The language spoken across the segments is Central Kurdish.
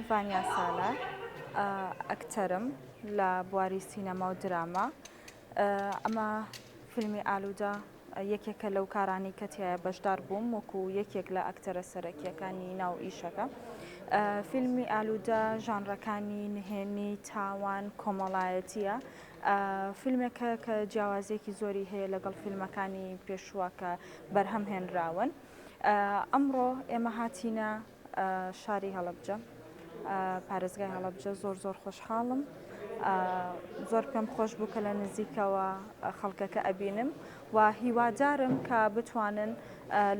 ڤانیا سالار ئەکتەرم لە بواری سینەما و دراما ئەمە فیلمی ئالوودە یەکێکە لەو کارانەی کە تیایە بەشدار بووم وەکو یەکێک لە ئەکتەرە سەرەکیەکانی ناو ئیشەکە فیلمی ئالوودە ژانرەکانی نهێنی تاوان کۆمەڵایەتیە فیلمێکە کە جیاوازیەکی زۆری هەیە لەگەڵ فیلمەکانی پێشووە کە بەرهەم هێنراون ئەمڕۆ ئێمە هاتینە شاری هەڵەبجە پارێزگای هەڵەبجە زۆر زۆر خۆشحاڵم زۆر پێم خۆش بوو کە لە نزیکەوە خەڵکەکە ئەبینم و هیوادارم کە بتوانن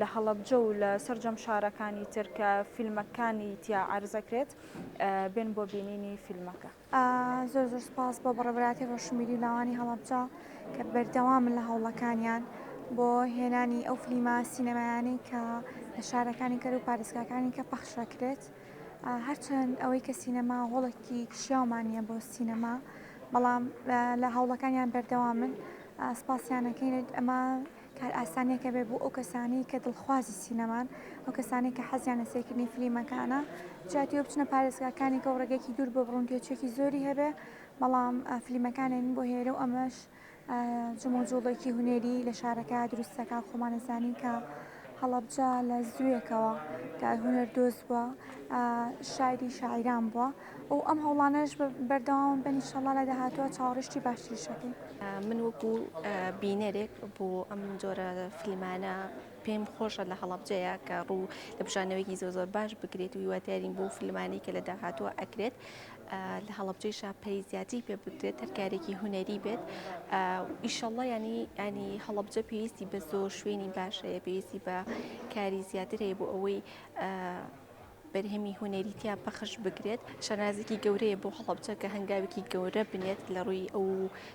لە هەڵەبجە و لە سرجەم شارەکانی ترکە فیلمەکانی تیا عرزەکرێت بێن بۆ بینینی فیلمەکە. زۆر زۆر سپاس بۆ بەڕێ براتی ڕۆشنبیری و لاوانی هەڵەبجە کە بەردەوامن لە هەوڵەکانیان بۆ هێنانی ئەو فلیمە سینەمایانەی کە لە شارەکانی کەر و پارێزگاکانی کە پەخشەکرێت هەرچەند ئەوەی کە سینەما هۆڵکی کشیاومانە بۆ سینەما بەڵام لە هەوڵەکانیان بەردەوامن سپاسیانەکەینێت ئەمە کارئاسانیەکە بێت بۆ ئەو کەسانەی کە دڵخوازی سینەمان، ئەو کەسانەی کە حەزیان لە سەیرکردنی فلیمەکانە، جا تیۆ بچنە پارێزگاکانی کە و ڕێگەیەکی دوور بۆ بڕن تێچووێکی زۆری هەبێ، بەڵام فلیمەکان دێن بۆ هێرێ و ئەمەش جموجوڵێکی هونەری لە شارەکە دروست دەکا و خۆمان ئەزانین کە هەڵەبجە لە زووێکەوە کە هونەردۆز بووە شاعری شاعیران بووە. و ئەم هەوڵانەش بەردەوام بن ئیشەڵا لە داهاتووە چاوەڕیشتی باشتریش دەکەین. من وەکو بینەرێک بۆ ئەم جۆرە فیلمانە پێم خۆشە لە هەڵەبجەیە کە ڕوو لە بژانەوەیەکی زۆر زۆر باش بکرێت و هیوادارین بۆ فیلمانی کە لە داهاتووە ئەکرێت لە هەڵەبجەی شاپەری زیاتی پێ بکرێت هەرکارێکی هوەری بێت ئیشەڵە ینی ینی هەڵەبجە پێویستی بە زۆر شوێنی باشەیە پێویستی بە کاری زیاتر هەیە بۆ ئەوەی بەرهەمی هونەری تیا پەخش بکرێت شانازێکی گەورەیە بۆ هەڵەبجە کە هەنگاوێکی گەورە بنێت لە ڕووی ئەو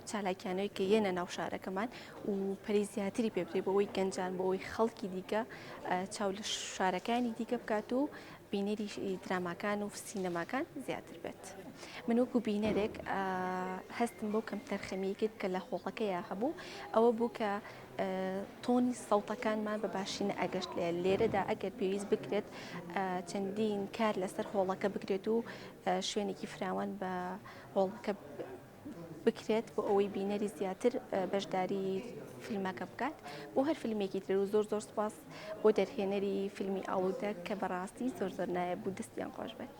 چالاکیانەوەی کە یەنە ناو شارەکەمان و پەری زیاتری پێ بدرێت بۆەوەی گەنجان بۆەوەی خەڵکی دیکە چاو لە شارەکانی دیکە بکات و بینەری دراماکان و سینەماکان زیاتر بێت من وەکو بینەرێک هەستم بۆ کەم تەرخەمیکرد کە لە هۆڵەکەیە هەبوو ئەوە بوو کە تۆنی سەوتەکانمان بە باشی نەئەگەشت لێ لێرەدا ئەگەر پێویست بکرێت چەندین کار لەسەر هۆڵەکە بکرێت و شوێنێکی فراوان بە هۆڵەکە بکرێت بۆ ئەوەی بینەری زیاتر بەشداری فیلمەکە بکات بۆ هەر فیلمێکی تر و زۆر زۆر سپاس بۆ دەرهێنەری فیلمی ئاودە کە بەڕاستی زۆر زۆر نایە بوو دەستیان خۆش بێت.